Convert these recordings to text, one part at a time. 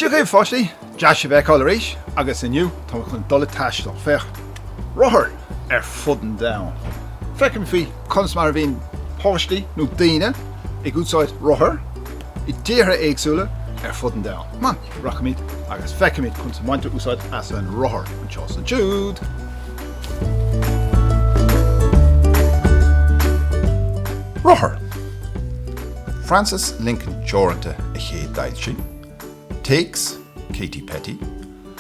Dia dhaoibh a pháistí! Deas sibh a fheiceáil arís agus inniu tá mé chun dul ag taisteal. Féach! Rothair ar fud an domhain. Feicfimid conas mar a bhíonn páistí nó daoine ag úsáid rothair i dtíortha éagsúla ar fud an domhain. Rachaimid agus feicfimid conas a bhaintear úsáid as an rothar anseo sa Jude! Rothar! Francis Lincoln Teoranta a chéadfhoilsigh, téacs Kate Petty,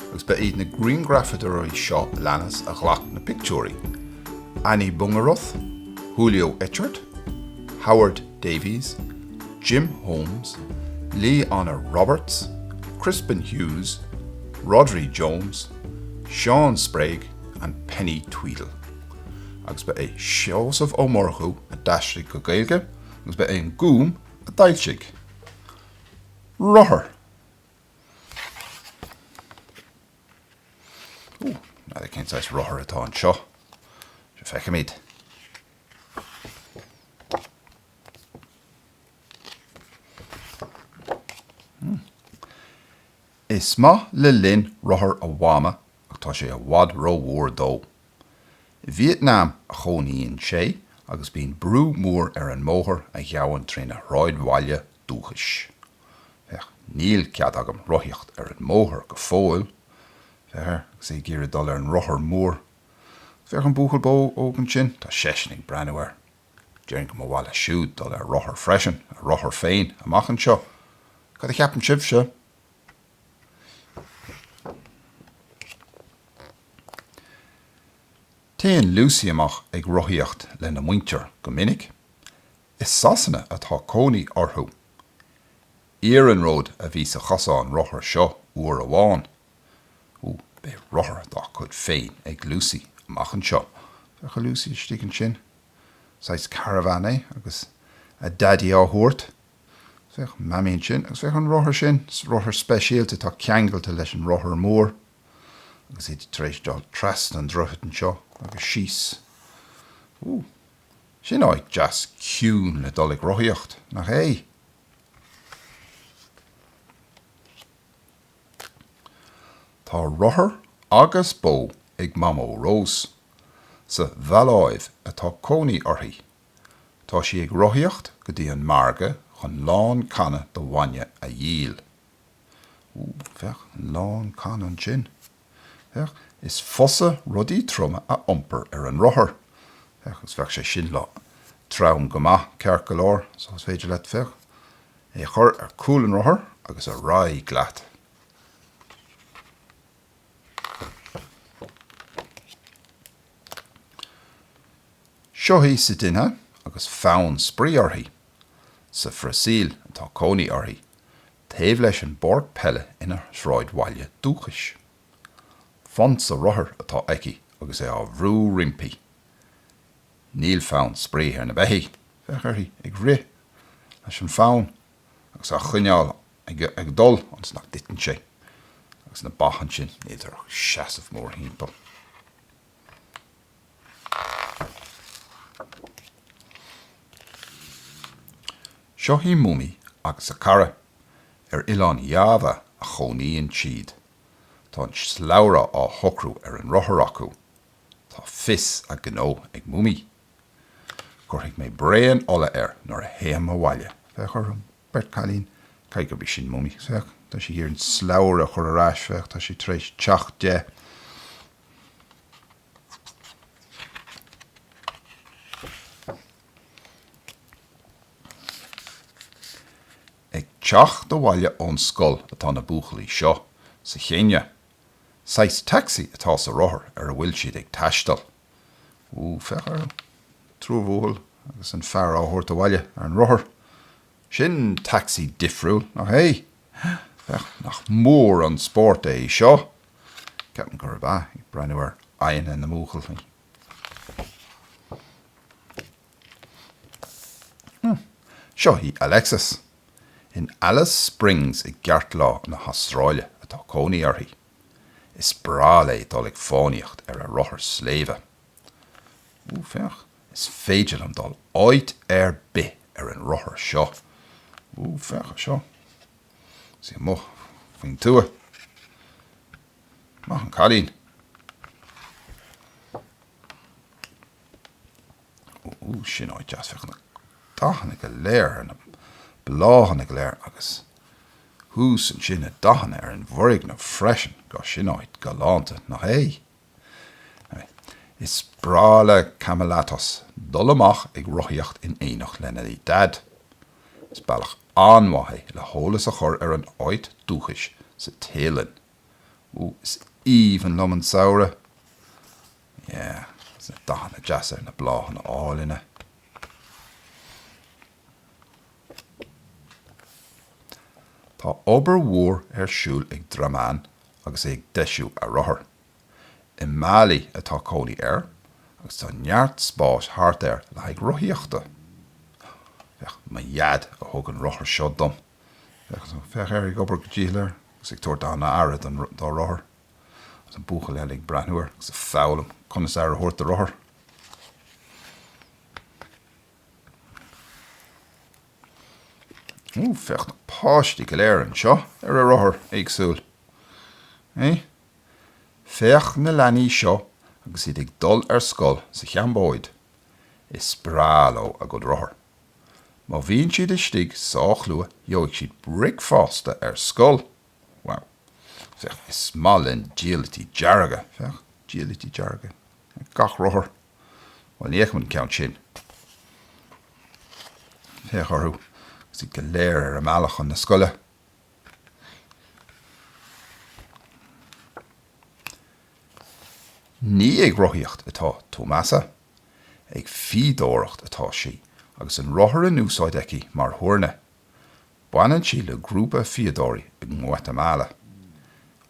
agus ba iad na grianghrafadóirí seo a leanas a ghlac na pictiúirí, Annie Bungeroth, Julio Etchart, Howard Davies, Jim Holmes, Lee Anna Roberts, Crispin Hughes, Rhodri Jones, Sean Sprague and Penny Tweedie. Agus ba é Seosamh Ó Murchú a d'aistrigh go Gaeilge agus ba é an Gúm a d'fhoilsigh. Rothar. Ú, now cén saghas rothar atá anseo. Seo feicimid. Is maith le Linh rothar a Mhama ach tá sé i bhfad rómhór dó. I Vietnam a chónaíonn sé agus bíonn brú mór ar an mbóthar a ghabhann trína shráidbhaile dúchais. Féach, níl cead agam rothaíocht ar an mbóthar go fóill. Féach air agus é ag iarraidh dul ar an rothar mór. Féach an buachaill bó óg ansin, tá seisean ag breathnú air. Déarfainn go mba mhaith leis siúd dul ar rothar freisin, a rothar féin, amach anseo. Cad a cheapann sibhse? Téann Lucy amach ag rothaíocht lena muintir go minic. I Sasana atá cónaí orthu. Iarnród a bhí sa chosán rothar seo uair amháin. Ó, beidh rothar dá cuid féin ag Lucy amach anseo. Féach ar Lucy istigh ansin. Saghas caravan é agus a daidí á thabhairt. Féach Mamaí ansin. Agus féach an rothar sin. Rothar speisialta atá ceangailte leis an rothar mór. Agus iad tar éis dul trasna an droichid anseo agus síos. Ó, sin áit deas ciúin le dul ag rothaíocht, nach é? Tá rothar agus bó ag Mamó Rós. Sa Mhaláiv atá cónaí uirthi. Tá sí ag rothaíocht go dtí an margadh chun lán canna de bhainne a dhíol. Úúú, féach, lán canna ansin. Féach, is fusa rudaí troma a iompar ar an rothar. Féach, agus bheadh sé sin trom go maith, ceart go leor, so is féidir leat, féach, é a chur ar cúl an rothair agus ar aghaidh leat. Seo í Sidinéia agus fonn spraoi uirthi. Sa Bhrasaíl atá cónaí uirthi. taobh leis an bpáirc peile ina sráidbhaile dúchais. Fonsa rothair atá aici agus é á bhrú roimpi. Níl fonn spraoi ar na beithígh, féach uirthi ag rith leis an bhfonsa á choinneáil ag dul ionas nach dtiteann sé agus na ba ansin díreach ag seasamh mórthimpeall. Seo í Mummy agus a cara. Ar oileán Java a chónaíonn siad. Tá an slabhra á shocrú ar an rothar acu. Tá fios a gnó ag Mummy. Cuirfidh mé braon ola air nuair a théim abhaile. Féach orthu, beirt cailín. Caithfidh gurb í sin Mummy. Féach, tá sí ag iarraidh an slabhra a chur ar ais. Féach, tá sé tar éis teacht de. Ag teacht abhaile ón scoil atá na buachaillí seo, sa Chéinia. Saghas taxi atá sa rothar ar a bhfuil siad ag taisteal. Oooh, féach orthu. Triúr buachaill agus an fear á dtabhairt abhaile ar an rothar. Sin tacsaí difriúil, nach é? Nach mór an spórt é seo! Ceapaim gurb ea, ag breathnú ar aghaidheanna na mbuachaillí. Hm. Seo í Alexis. In Alice Springs i gceartlár na hAstráile atá cónaí uirthi. Is breá léi dul ag fánaíocht ar a rothar sléibhe. Ó, féach, is féidir leo dul áit ar bith ar an rothar seo. Ó, féach anseo. Tá sí amuigh faoin tuath. Maith an cailín. Ó, sin áit deas. Féach na dathanna go léir ar na bláthanna go léir agus thuas ansin na dathanna ar an bhfoirgneamh freisin. Go, sin áit galánta, nach é? Is breá le Kamalatos dul amach ag rothaíocht in éineacht lena Daid. Is bealach an-mhaith é le heolas a chur ar a n-áit dúchais sa Téalainn. Ó, is aoibhinn liom an samhradh! Yeah, is na dathanna deasa ar na bláthanna álainn. Tá obair mhór ar siúl ag Dramán agus é ag deisiú a rothar. I Mali atá cónaí air agus tá neart spáis thart air le haghaidh rothaíochta. Féach, mo Dhaid a thug an rothar seo dom. Féach, féach air ag obair go dícheall air agus ag tabhairt an-aire don, dá rothar. Agus an buachaill eile ag breathnú air agus ag foghlaim conas aire a thabhairt do rothar. Ó, féach na páistí go léir anseo ar a rothair éagsúla. Féach na leanaí seo agus iad ag dul ar scoil sa Chambóid. Is breá leo a gcuid rothar. Má bhíonn siad istigh sách luath gheobhaidh siad bricfeasta ar scoil. Wow. Féach, is maith linn diallaití dearga. Féach, diallaití dearga ar gach rothar. Bhuel, ní fheicim an ceann sin. Féach orthu agus iad go léir ar a mbealach chun na scoile. Ní ag rothaíocht atá Tomasa. Ag fíodóireacht atá sí agus an rothar in úsáid aici mar thuirne. Baineann sí le grúpa fíodóirí i nGuatamala.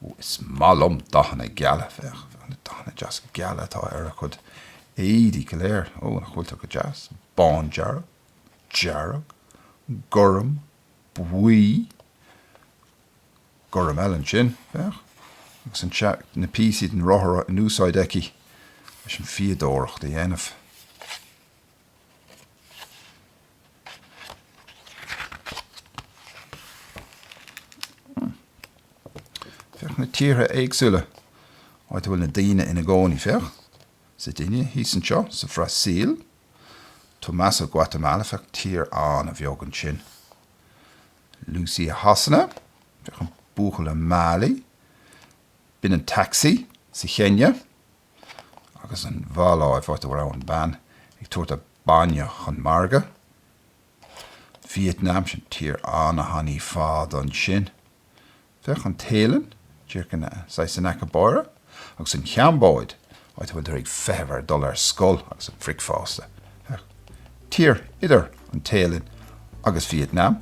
Ó, is maith liom dathanna geala. Féach na dathanna deasa geala atá ar a cuid éadaí go léir. Ó, nach bhfuil tú go deas? Bándearg. Dearg. Gorm. Buí. Gorm eile ansin. Féach. Agus an na píosaí den rothar in úsáid aici leis an fíodóireacht a dhéanamh. Féach na tíortha éagsúla áit a bhfuil na daoine ina gcónaí. Féach, seo duine thíos anseo, sa Bhrasaíl, Tomasa ó Guatamala, féach, tír an-bheag ansin, Lucy ó Shasana, féach, an buachaill i Mali, b'in an tacsaí, sa Chéinia, Agus an Mhaláiv, áit a raibh an bean ag tabhairt a bainne chun margadh. Vietnam, sin tír an-thanaí fada ansin. Féach an Téalainn, díreach saghas in aice báire, agus an Chambóid, áit a bhfuiltear ag feitheamh ar dhul ar scoil agus an bhricfeasta. Féach. Tír idir an Téalainn agus Vietnam,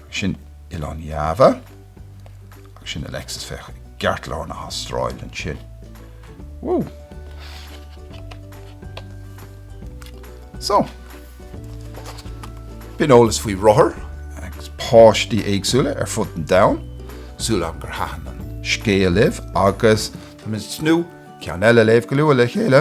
agus sin Oileán Java, agus sin Alexis, féach, i gceartlár na hAstráile ansin. Woo! So, B'in eolas faoi rothair agus páistí éagsúla ar fud an domhain, súil agam gur thaitin an scéal libh agus tá mé ag tnúth ceann eile léamh go luath le chéile.